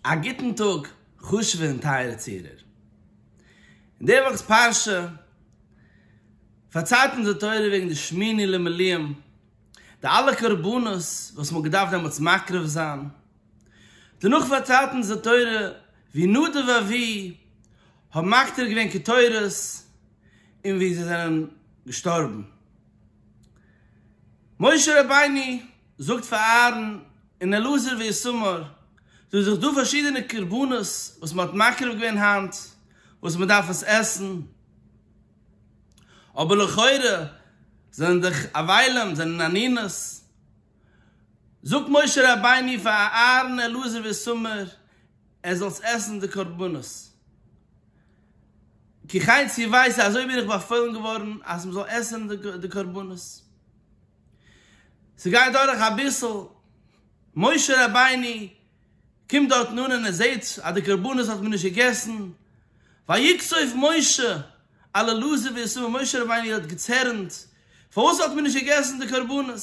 א גוטן טאג חשוב'ע און טייערע צוהערער. אין די וואכ'ס פרשה פארציילט אונז די תורה וועגן די שמיני למילואים, די אלע קרבנות וואס מ'האט געדארפט דעמאלטס מקריב זיין. דערנאך פארציילט אונז די תורה ווי נדב ואביהוא האבן מקטיר געווען קטורת און ווי זיי זענען געשטארבן. משה רבינו. זאגט פאר אהרן און אלעזר ואיתמר, דא איז דאך דא פארשידענע קרבנות וואס מען האט מקריב געווען היינט, וואס מען דארף עס עסן, אבער לכאורה זענען דאך אבילים זענען ענינות, זאגט משה רבינו פאר אהרן אלעזר ואיתמר, ער זאלסט עסן די קרבנות, כחי צי ווייס אזוי בין איך באפוילן געווארן אז מען זאל עסן די קרבנות. ס'גייט דורך אביסל, משה רבינו קומט דארטן אן און ער זעהט אז די קרבנות האט מען נישט געגעסן, ויקצוף משה אל אלעזר וישמח, משה רבינו האט געצערנט פארוואס האט מען נישט געגעסן די קרבנות,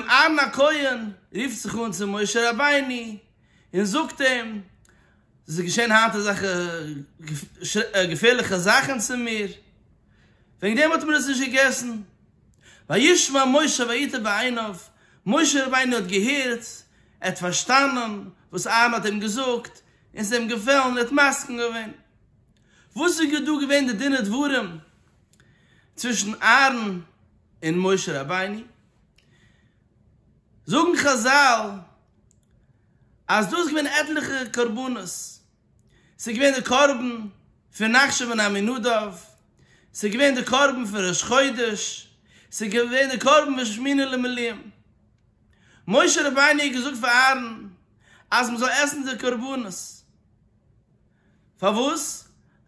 אהרן הכהן רופט זיך אן צו משה רבינו און זאגט אים, ס'איז געשען היינט אזעלכע געפערליכע זאכן צו מיר, וועגן דעם האט מען עס נישט געגעסן. וישמע משה ויטב בעיניו, משה רבינו האט געהערט, ער האט פארשטאנען וואס אהרן האט אים געזאגט, און ס'איז אים געפעלן, און ער האט מסכים געווען. וואס איז דא געווען די דין ודברים צווישן אהרן און משה רבינו? זאגן חזל. אז דא איז געווען עטליכע קרבנות, ס'איז געווען די קרבן פון נחשון בן עמינדב, ס'איז געווען די קרבן פון ראש חודש, ס'איז געווען די קרבן פון שמיני למילואים. משה רבינו האט געזאגט פאר אהרן אז מען זאל עסן די קרבנות. פארוואס?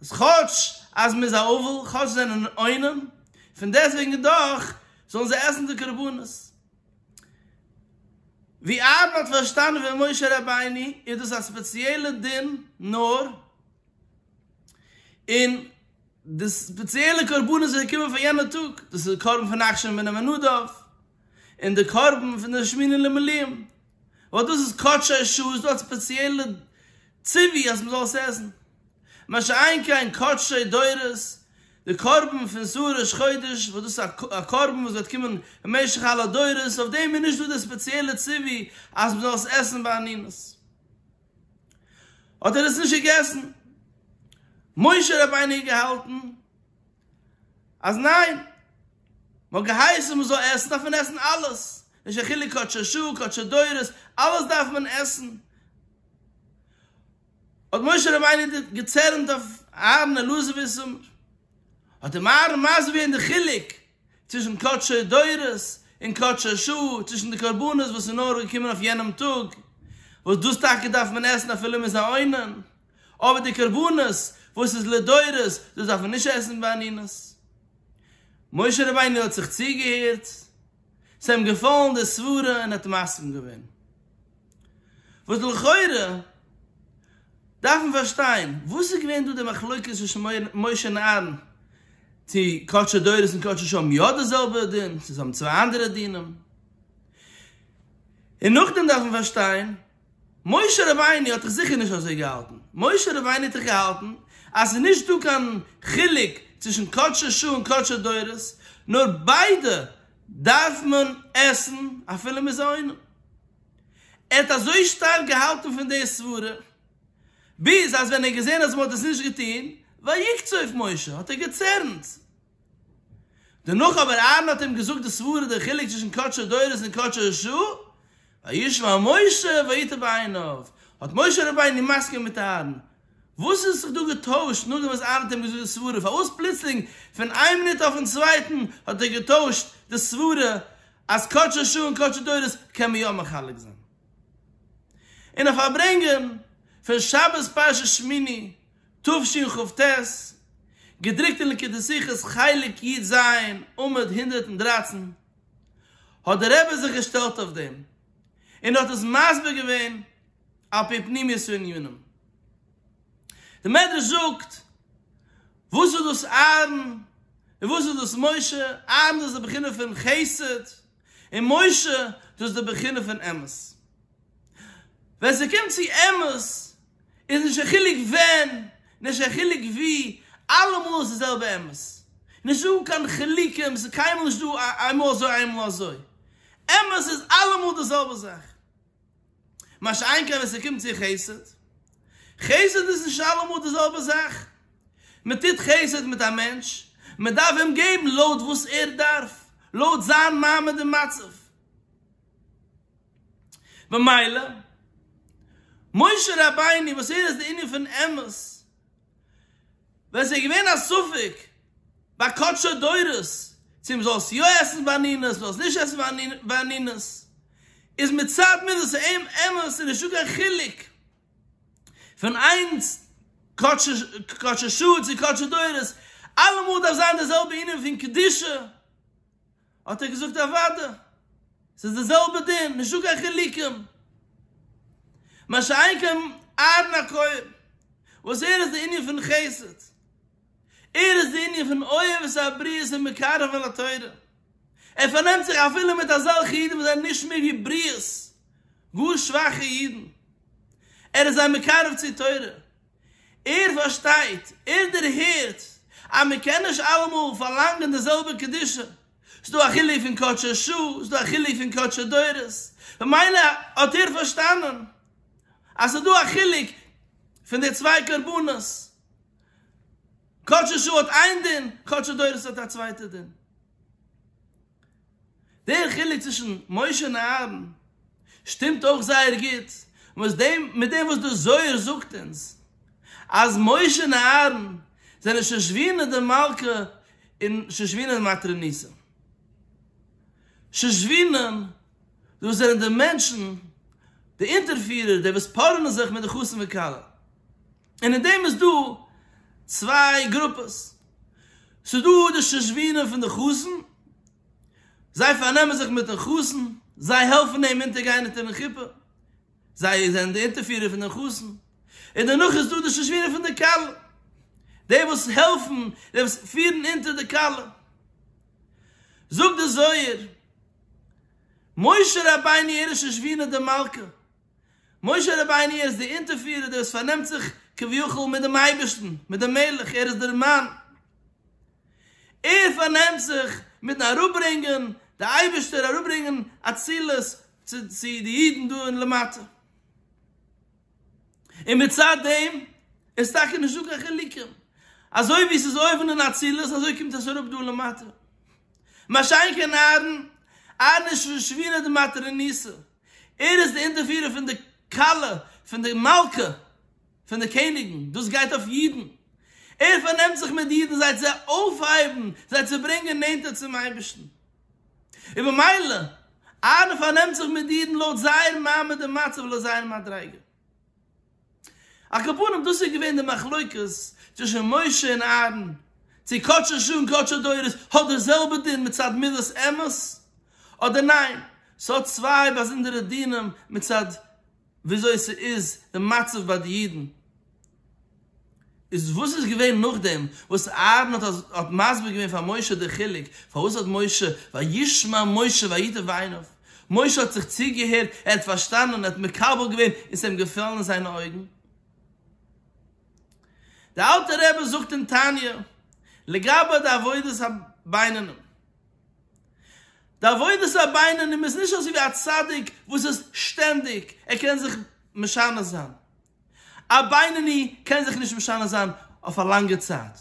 כאטש אז מען איז א אבל, כאטש זיי זענען עונים, פון דעסטוועגן דאך זאלן זיי עסן די קרבנות. ווי אהרן האט פארשטאנען פון משה רבינו איז דאס א ספעציעלע דין נאר אין די ספעציעלע קרבנות וואס קומען פאר יענע טאג, דאס איז די קרבן פון אכשר מיני ונדב און די קרבן פון די שמיני למלאים, ווייל דאס איז קדשי שעות, דאס האט ספעציעלע ציווי אז מען זאל עס עסן. מה שאין כן קדשי דורות, די קרבן פון שאור ראש חודש וואס דאס איז א קרבן וואס וועט קומען במשך אלע דורות, אויף דעם איז נישט דא די ספעציעלע ציווי אז מ'זאל עס עסן בענינוס. האט ער עס נישט געגעסן? משה רבינו האט געהאלטן אז ניין, מ'האט געהייסן מ'זאל עסן דארף מען עסן אלעס, נישט קיין חילוק קדשי שאור קדשי דורות, אלעס דארף מען עסן. האט משה רבינו געצערנט אויף אהרן אלעזר וויסעמער, האט אים אהרן מסביר געווען די חילוק צווישן קדשי דורות און קדשי שעה, צווישן די קרבנות וואס איז נאר געקומען אויף יענעם טאג, וואס דאס טאקע דארף מען עסן אפילו מ'איז א עונן, אבער די קרבנות וואס איז לדורות, דאס דארף מען נישט עסן בענינות. משה רבינו האט זיך צוגעהערט, ס'איז אים געפאלן די סברה און ער האט מסכים געווען. וואס לכאורה דארף מען פארשטיין, וואס איז געווען דא די מחלוקת צווישן משה און אהרן, צו קדשי דורות און קדשי שעה האבן יא די זעלבע דין, צו זיי האבן צוויי אנדערע דינים, און נאכדעם דארף מען פארשטיין, משה רבינו האט דאך זיכער נישט אזוי געהאלטן, משה רבינו האט דאך געהאלטן אז ס'איז נישט דא קיין חילוק צווישן קדשי שעה און קדשי דורות, נאר ביידע דארף מען עסן אפילו מ'איז עונה. ער האט אזוי שטארק געהאלטן פון די סברה, ביז אז ווען ער האט געזען אז מ'האט עס נישט געטון, ויקץ אויף משה, האט ער געצערנט. דערנאך אבער אהרן האט אים געזאגט די סברה, דער חילוק צווישן קדשו דורות און קדשו שעה, וישמע משה ויטב עיניו, האט משה רבינו מסכים מיט אהרן, וואס איז זיך דא געטוישט נאכדעם וואס אהרן האט אים געזאגט די סברה? פארוואס פלוצלינג פון איין מינוט אויפן צווייטן האט ער געטוישט די סברה אז קדשי שעה און קדשי דורות קען מען יא מחלק זיין אין א פארברענגען פון שבת פרשת שמיני תשכ ח, געדרוקט אין ליקוטי שיחות חלק י ז עמוד הונדערט און דרײַצן, האט דער רבי זיך געשטעלט אויף דעם און האט עס מסביר געווען. על פי פנימיות הענינים. די מדרש זאגט, וואס איז דאס אהרן און וואס איז דאס משה, אהרן דאס איז די בחינה פון חסד, און משה דאס איז די בחינה פון אמת. ווען ס'קומט צו אמת, איז נישט קיין חילוק ווען, נישט קיין חילוק ווי, אלעמאל איז די זעלבע אמת. נישט דא קיין חילוקים, ס'איז קיינמאל נישט דא איינמאל אזוי איינמאל אזוי. אמת איז אלעמאל די זעלבע זאך. מה שאין כן ווען ס'קומט צו חסד, חסד איז נישט אלעמאל די זעלבע זאך, מען טוט חסד מיט א מענטש, מען דארף אים געבן לויט וואס ער דארף, לויט זיין מעמד און מצב, במילא משה רבינו וואס ער איז די ענין פון אמת, ווען ס'איז געווען א ספק ביי קדשי דורות צו מ'זאלסט יא עסן באנינעס מ'זאלסט נישט עסן באנינעס איז מצד מידות העם אמת ס'איז נישטא קיין חילוק פון איינס קדשי שעה צו קדשי דורות אלעמאל דארף זיין די זעלבע ענין פון קדושה. האט ער געזאגט אוואדע, ס'איז די זעלבע דין, נישטא קיין חילוקים. מה שאין כן אהרן הכהן, וואס ער איז די ענין פון חסד, ער איז די ענין פון אוהב את הבריות ומקרבן לתורה, ער פארנעמט זיך אפילו מיט אזעלכע אידן וואס זענען נישט מער ווי בריות, גאר שוואכע אידן, ער איז זיי מקרב צו תורה. ער פארשטייט, ער דערהערט, אז מען קען נישט אלעמאל פארלאנגען די זעלבע קדושה, ס'דא א חילוק פון קדשי שעה, ס'דא א חילוק פון קדשי דורות, במילא האט ער פארשטאנען אז ס'דא א חילוק פון די צוויי קרבנות, קדשי שעה האט איין דין, קדשי דורות האט א צווייטע דין. דער חילוק צווישן משה און אהרן שטימט אויך זייער גוט מיט דעם וואס דער זוהר זאגט אונז אז משה און אהרן זענען שושבינה די מלכה און שושבינה די מתריניסה. שושבינים, דאס זענען די מענטשן, די אונטערפירער, די וואס פארענען זיך מיט די חתן וכלה. און אין דעם איז דא צוויי גרופעס, ס'איז דא די שושבינים פון די חתן, זיי פארנעמען זיך מיט'ן חתן, זיי העלפן אים אונטערגיין אונטער'ן חופה, זיי זענען די אונטערפירער פון דעם חתן, און דערנאך איז דא די שושבינים פון די כלה, די וואס העלפן, די וואס פירן אונטער די כלה. זאגט די זוהר, משה רבינו ער איז שושבינה דמלכה. משה רבינו איז דער אונטערפירער דער וואס פארנעמט זיך כביכול מיט דעם אייבערשטן, מיט דעם מלך, ער איז דער מאן, ער פארנעמט זיך מיטן אראפברענגען די אייבערשטער, אראפברענגען אצילות צו צו די אידן דא אין למטה, און מצד דעם איז טאקע נישטא קיין חילוקים, אזוי ווי עס איז אויבן אין אצילות אזוי קומט עס אראפ דא למטה, מה שאין כן אהרן, אהרן איז שוין שבירה דמטה רמיסה, ער איז דער אונטערפירער פון די כלה פון די מלכה פון די קעניגן, דאס גייט אויף אידן, ער פארנעמט זיך מיט אידן זיי צו אויפהייבן, זיי צו ברענגען נענטער צום אייבערשטן, און במילא אהרן פארנעמט זיך מיט אידן לויט זייער מעמד און מצב, לויט זייער מדריגה. על כל פנים דאס איז געווען די מחלוקת צווישן משה און אהרן, צו קדשו שעה און קדשו דורות האט די זעלבע דין מצד מילות אמת אדער ניין, ס'האט צוויי באזונדערע דינים מצד וויאזוי ס'איז די מצב ביי די אידן. איז וואס איז געווען נאכדעם וואס אהרן האט מסביר געווען פאר משה די חילוק, פארוואס האט משה, וישמע משה ויטב עיניו, משה האט זיך צוגעהערט, ער האט פארשטאנען, ער האט מקבל געווען און ס'האט אים געפעלן אין זיינע אויגן. דער אלטער רבי זאגט אין תניא, לגבי די עבודת הבינונים, די עבודת הבינונים איז נישט אזוי ווי א צדיק וואס איז שטענדיג, ער קען זיך משנה זיין, א בינוני קען זיך נישט משנה זיין אויף א לאנגע צייט,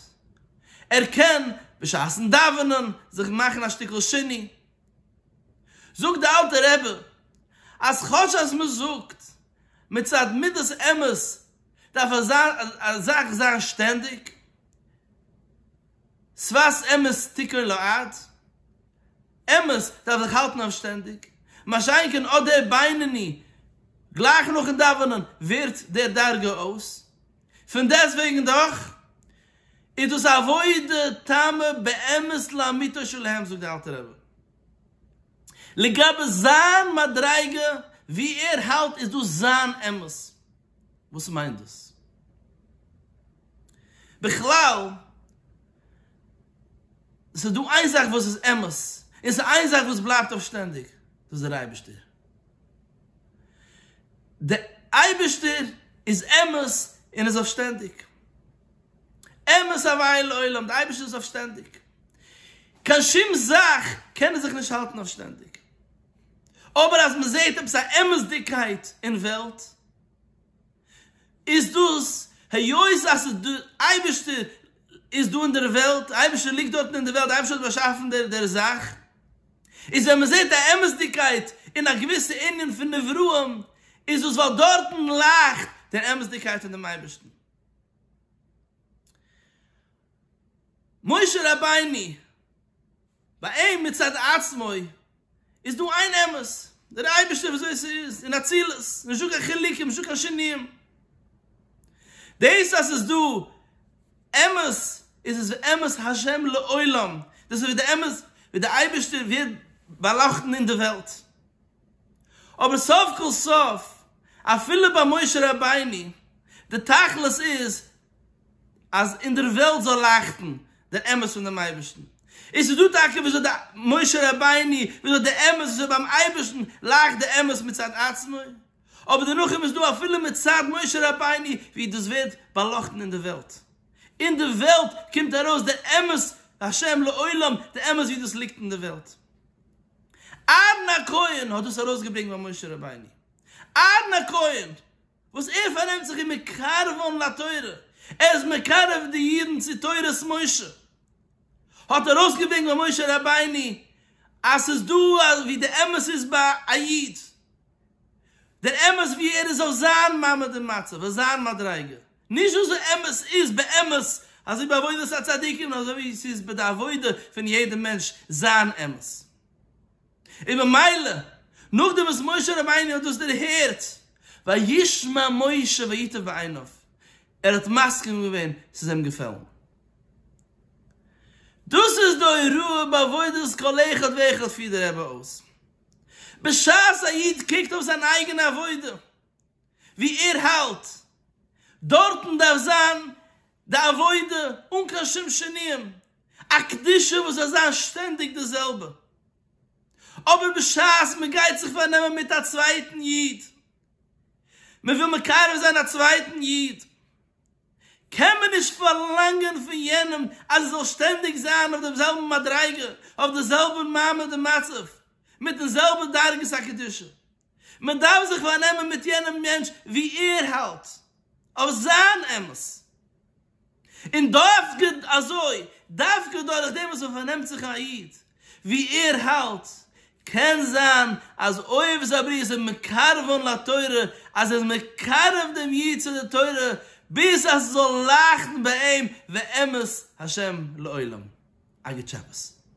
ער קען בשעת'ן דאווענען זיך מאכן א שטיקל שינוי. זאגט די אלטע רבי אז כאטש אז מען זאגט מצד מידת אמת דארף אזא זאך זיין שטענדיג, שפת אמת תקרא לו ארץ, אמת דארף זיך האלטן אויף שטענדיג, מה שאין כן אט דער בינוני גלייך נאכן דאווענען ווערט דער דרגה אויס, פון דעסט וועגן דאך איז דאס א עבודה תמה באמת לאמיתו של עהם זאגט דער אלטער רבי. לגבי זיין מדריגה ווי ער האלט איז דאס זיין אמת. וואס מיינט דאס בכלל? עס איז דא איין זאך וואס איז אמת, און עס איז איין זאך וואס בלייבט אויף שטענדיג, דאס איז דער אייבערשטער. דער אייבערשטער איז אמת און איז אויף שטענדיג. אמת הווי לעולם, דער אייבערשטער איז אויף שטענדיג. קיין שום זאך קען ער זיך נישט האלטן אויף שטענדיג. אבער אז מען זעט עפעס א אמת'דיגקייט אין וועלט איז דאס היות אז די אייבערשטער איז דא אין דער וועלט, די אייבערשטער ליגט דארטן אין דער וועלט, די אייבערשטער האט באשאפן דער זאך, איז ווען מען זעט א אמת'דיגקייט אין א געוויסע ענין פון נבראים איז דאס ווייל דארטן לייכט דער אמת'דיגקייט פון דעם אייבערשטן. משה רבינו. ביי אים מצד עצמו איז דא איין אמת, דער אייבערשטער וויאזוי עס איז אין אצילות, נישט דא קיין חילוקים, נישט דא קיין שינויים. דאס אז עס איז דא אמת איז עס ואמת ה' לעולם, דאס איז ווי די אמת ווי דער אייבערשטער ווערט באלאכטן אין די וועלט. אבער סוף כל סוף אפילו ביי משה רבינו די תכלית איז אז אין דער וועלט זאל לייכטן דער אמת פון דעם אייבערשטן. און ס'איז דא טאקע וויאזוי די משה רבינו, וויאזוי די אמת, וויאזוי ביים אייבערשטן לייכט די אמת מצד עצמו, אבער דערנאך איז דא אפילו מצד משה רבינו ווי דאס ווערט באלאכטן אין דער וועלט. אין דער וועלט קומט ארויס דער אמת השם לעולם, די אמת ווי דאס ליגט אין דער וועלט. אהרן הכהן האט דאס ארויסגעברענגט ביי משה רבינו. אהרן הכהן! וואס ער פארנעמט זיך און מקרבן לתורה, ער איז מקרב די אידן צו תורת משה, האט ער אויסגעברענגט ביי משה רבינו אז ס'איז דא ווי די אמת איז ביי א איד, דער אמת ווי ער איז אויף זיין מעמד און מצב, אויף זיין מדריגה, נישט וואס די אמת איז באמת, אזוי ביי עבודת הצדיקים און אזוי ווי ס'איז ביי די עבודה פון יעדע מענטש זיין אמת. און במילא נאכדעם וואס משה רבינו האט דאס דערהערט, וישמע משה ויטב בעיניו, ער האט מסכים געווען, ס'איז אים געפעלן. דאס איז די הוראה בעבודת כל אחד ואחד פירט דער רבי אויס. בשעת א איד קוקט אויף זיין אייגענע עבודה, וואו ער האלט, דארטן דארף זיין די עבודה אן קיין שום שינויים, א קדושה וואס איז אזש שטענדיג די זעלבע, אבער בשעת מען גייט זיך פארנעמען מיט א צווייטן איד, מען וויל מקרב זיין א צווייטן איד, קען מען נישט פארלאנגען פון יענעם אז ער זאל שטענדיג זיין אויף דעם זעלבן מדריגה, אויף די זעלבע מעמד און מצב, מיטן זעלבע דרגת הקדושה, מען דארף זיך פארנעמען מיט יענעם מענטש ווי ער האלט אויף זיין אמת, און דווקא אזוי, דווקא דורך דעם וואס מען פארנעמט זיך א איד ווי ער האלט, קען זיין אז אויב איז א בריה זיך מקרב'ן לתורה, אז ער איז מקרב דעם איד צו די תורה, ביז אז ס'זאל לייכטן ביי אים ואמת ה' לעולם. א גוט שבת.